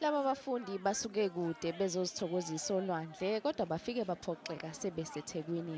Laba bafundi basuke kude bezozithokozisa olwandle kodwa bafike baphoxeka sebeseThekwini.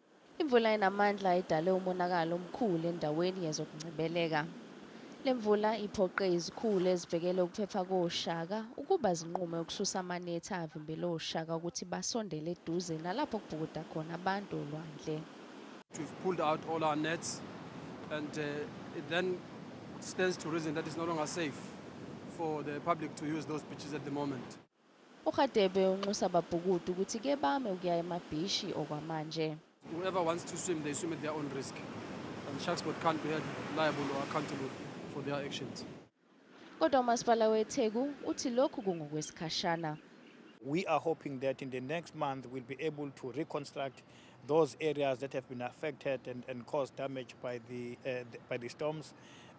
Imvula enamandla idale umonakalo omkhulu endaweni yezokungcebeleka. Le mvula iphoqe izikhulu ezibhekele ukuphepha koShaka ukuba zinqume ukususa amanethi avimbele oShaka ukuthi basondele eduze nalapho kubhukuda khona abantu olwandle. We've pulled out all our nets and uh, it then stands to reason that it's no longer safe for the public to use those beaches at the moment. URadebe unxusa ababhukudu ukuthi kebame ukuya emabhishi okwamanje. Whoever wants to swim, they swim at their own risk. And Sharksport can't be held liable or accountable for their actions. Kodwa uMasipala weTheku uthi lokhu kungokwesikhashana. We are hoping that in the next month we'll be able to reconstruct those areas that have been affected and, and caused damage by the, uh, the by the storms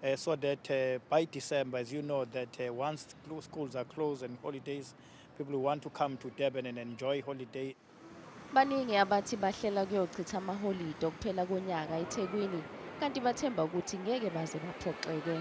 uh, so that uh, by December as you know that uh, once schools are closed and holidays people who want to come to Durban and enjoy holiday baningi abathi bahlela kuyochitha amaholide okuphela konyaka eThekwini kanti bathemba ukuthi ngeke baze baphoxeke